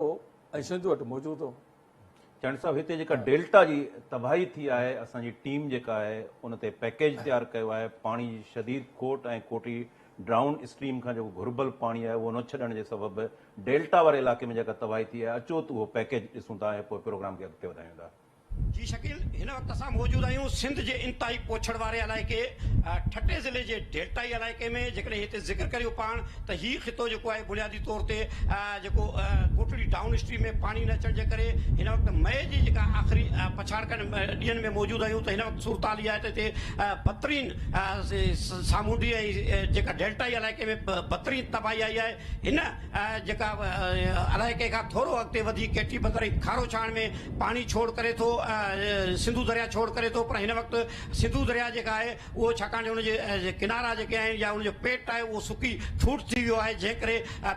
هو ۽ سنڌ وٽ موجود هو. چياڻي صاحب هتي جيڪا ڊيلٽا جي تباهي ٿي آهي اسان جي ٽيم جيڪا آهي ان تي پيڪيج تيار ڪيو آهي پاڻي جي شديد کوٽ ۽ ڪوٽي ڊرائون اسٽريم کان جيڪو گهربل پاڻي آهي اهو نه ڇڏڻ جي سبب ڊيلٽا واري علاقي ۾ جيڪا تباهي ٿي آهي اچو ته اهو پيڪيج ڏسون ٿا ۽ پوء پروگرام کي اڳتي وڌايون ٿا. جي شڪيل هن وقت اسان موجود آهيون سنڌ جي انتهائي پوڇڙ واري علائقي ٺٽي ضلعي جي ڊيلٽائي علائقي ۾ جيڪڏهن هتي ذڪر ڪريون پاڻ ته هي خطو جيڪو آهي بنيادي طور تي جيڪو ڪوٽڙي ڊائون اسٽريم ۾ پاڻي نه اچڻ جي ڪري هن وقت مئي جي جيڪا آخري پڇاڙڪن ڏينهن ۾ موجود آهيون ته هن وقت صورتحال اها آهي ته هتي بھترين سامونڊي ۽ جيڪا ڊيلٽائي علائقي ۾ بھترين تباهي آئي آهي هن جيڪا الائي ڪنهن کان ٿورو اڳتي وڌي ڪيٽي بندر ۽ کارو ڇاڻ ۾ پاڻي ڇوڙ ڪري ٿو سنڌو درياء ڇوڙ ڪري ٿو پر هن وقت سنڌو درياء جيڪا آهي اهو ڇاڪاڻ جو ان جي ڪنارا جيڪي آهن يا ان جو پيٽ آهي اهو سڪي ٺوٺ ٿي ويو آهي جنهن ڪري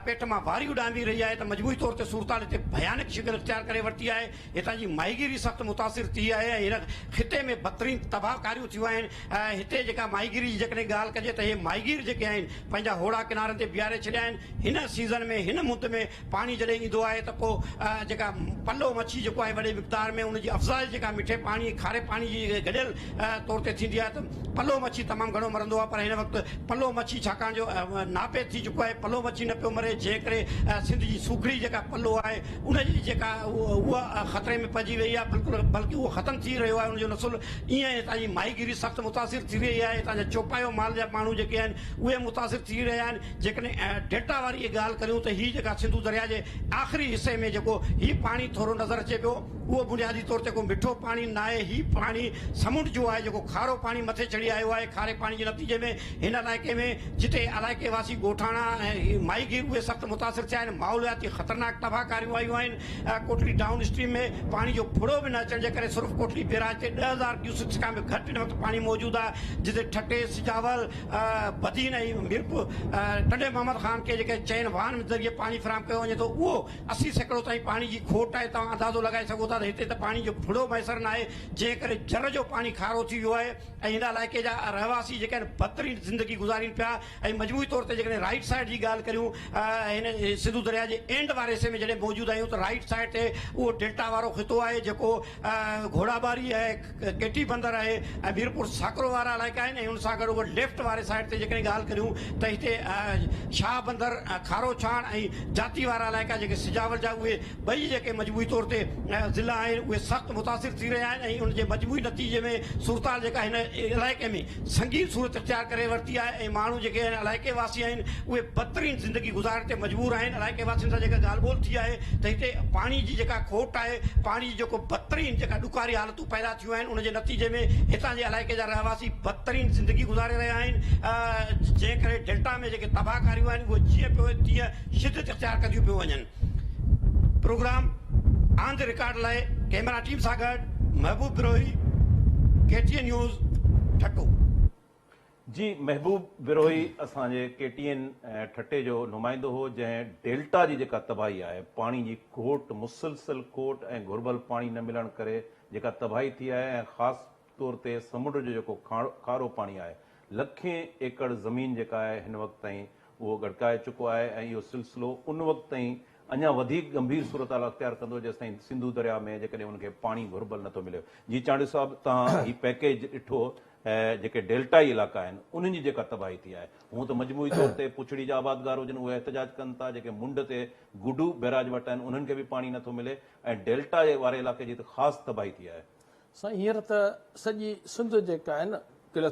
پيٽ مان واري اڏامي رهي آهي ته مجموعي طور تي صورتحال هتي ڀيانڪ شڪل اختيار ڪري ورتي آهي هتان جي ماهيگيري سخت متاثر ٿي آهي ۽ هن خطي ۾ بدترين تباهه ڪاريون ٿيون آهن. هتي جيڪا ماهيگيري جي جيڪڏهن ڳالهه ڪجي ته هي ماهيگير جيڪي آهن پنهنجا هوڙا ڪنارن تي بيهاري ڇڏيا آهن. هن سيزن ۾ هن مند ۾ پاڻي جڏهن ايندو آهي ته پوء جيڪا پلو مڇي جيڪو آهي وڏي مقدار ۾ ان جي افزائش جيڪا مٺي پاڻي ۽ کاري پاڻي جي گڏيل طور تي ٿيندي آهي ته پلو مڇي تمام گهڻو مرندو آهي پر هن وقت پلو مڇي ڇاڪاڻ جو ناپيد ٿي چڪو آهي پلو مڇي نه پيو مري جنهن ڪري سنڌ جي سوکڙي جيڪا پلو آهي ان جي جيڪا اها خطري ۾ پئجي وئي آهي بلڪل بلڪه اهو ختم ٿي رهيو آهي ان جو نسل ايئن ۽ هتان جي ماهي گيري سخت متاثر ٿي رهي آهي هتان جا چوپايو مال جا ماڻهو جيڪي آهن اهي متاثر ٿي رهيا آهن جيڪڏهن ڊيلٽا واري جي ڳالهه ڪريون ته هي جيڪا سنڌو درياء جي آخري حصي ۾ جيڪو هي پاڻي ٿورو نظر اچي پيو اهو بنيادي طور تي ڪو مٺو پاڻي ناهي هي پاڻي سمنڊ جو آهي جيڪو کارو پاڻي مٿي چڙهي آيو آهي کاري پاڻي جي نتيجي ۾ هن علائقي ۾ جتي علائقي واسي ڳوٺاڻا ۽ ماهي گير اهي سخت متاثر ٿيا آهن، ماحولياتي خطرناڪ تباهڪاريون آيون آهن، ڪوٽڙي ڊائون اسٽريم ۾ پاڻي جو ڦڙو به نه اچڻ جي ڪري سرخ ڪوٽڙي بيراج تي ڏهه هزار ڪيوسڪس کان به گهٽ هن وقت پاڻي موجود آهي جتي ٺٽي، سجاول، بدين ۽ ميرپور ٽنڊي محمد خان کي جيڪي چئن واهن ذريعي پاڻي فراهم ڪيو وڃي ٿو اهو اسي سيڪڙو تائين پاڻي جي کوٽ آهي توهان اندازو لڳائي سگهو ٿا ته هتي ته پاڻي جو ڦڙو ميسر ناهي جنهن ڪري جر جو پاڻي کارو ٿي ويو آهي. ۽ هن علائقي جا رهواسي جيڪي آهن بدترين زندگي گذارين پيا ۽ مجموعي طور تي جيڪڏهن رائيٽ سائيڊ جي ڳالهه ڪريون هن سنڌو درياء جي اينڊ واري حصي ۾ جڏهن موجود آهيون ته رائيٽ سائيڊ تي اهو ڊيلٽا وارو خطو آهي جيڪو گهوڙا ٻاري آهي ڪيٽي بندر آهي ۽ ميرپور ساڪرو وارا علائقا آهن ۽ ان سان گڏ گڏ ليفٽ واري سائيڊ تي جيڪڏهن ڳالهه ڪريون ته هتي شاهه بندر کارو ڇاڻ ۽ جاتي وارا علائقا جيڪي سجاول جا اهي ٻئي جيڪي مجموعي طور تي ضلعا آهن اهي سخت متاثر ٿي رهيا آهن ۽ ان جي مجموعي نتيجي ۾ صورتحال جيڪا هن علائقي ۾ سنگين صورت اختيار ڪري ورتي آهي ۽ ماڻهو جيڪي هن علائقي واسي آهن اهي بدترين زندگي گذارڻ تي مجبور آهن علائقي واسين سان جيڪا ڳالهه ٻولهه ٿي آهي ته هتي پاڻي جي جيڪا کوٽ آهي پاڻي جي جيڪو بدترين جيڪا ڏکاري حالتون پيدا ٿيون آهن ان جي نتيجي ۾ هتان جي علائقي جا رهواسي بدترين زندگي گذاري رهيا آهن جنهن ڪري ڊيلٽا ۾ جيڪي تباهه ڪاريون آهن اهي جيئن پيو تيئن شدت اختيار ڪنديون پيون وڃن. پروگرام آن دي رڪارڊ لاء ڪيمرا ٽيم سان گڏ Mehboob Brohi K T N news Thatta. جي محبوب بروهي اسان جي ڪي ٽي اين ٺٽي جو نمائندو هو جنهن ڊيلٽا جي جيڪا تباهي آهي پاڻي جي گهوٽ مسلسل کوٽ ۽ گهربل پاڻي نه ملڻ ڪري جيڪا تباهي ٿي آهي ۽ خاص طور تي سمنڊ جو جيڪو کارو پاڻي آهي لکين ايڪڙ زمين جيڪا آهي هن وقت تائين اهو ڳڙڪائي چڪو آهي ۽ اهو سلسلو ان وقت تائين اڃا وڌيڪ ڳنڀير صورتحال اختيار ڪندو جيستائين سنڌو درياء ۾ جيڪڏهن ان کي پاڻي گهربل نٿو ملي. جي چانڊيو صاحب توهان هي پيڪيج ڏٺو ۽ جيڪي ڊيلٽائي علائقا آهن انهن جي جيڪا تباهي ٿي آهي هونء ته مجموعي طور تي پڇڙي جا آبادگار هجن اهي احتجاج ڪن ٿا جيڪي منڊ تي گڊو بئراج وٽ آهن انهن کي به پاڻي نٿو ملي ۽ ڊيلٽا جي واري علائقي جي ته خاص تباهي ٿي آهي. سائين هينئر ته سڄي سنڌ جيڪا آهي نه ڪلٿ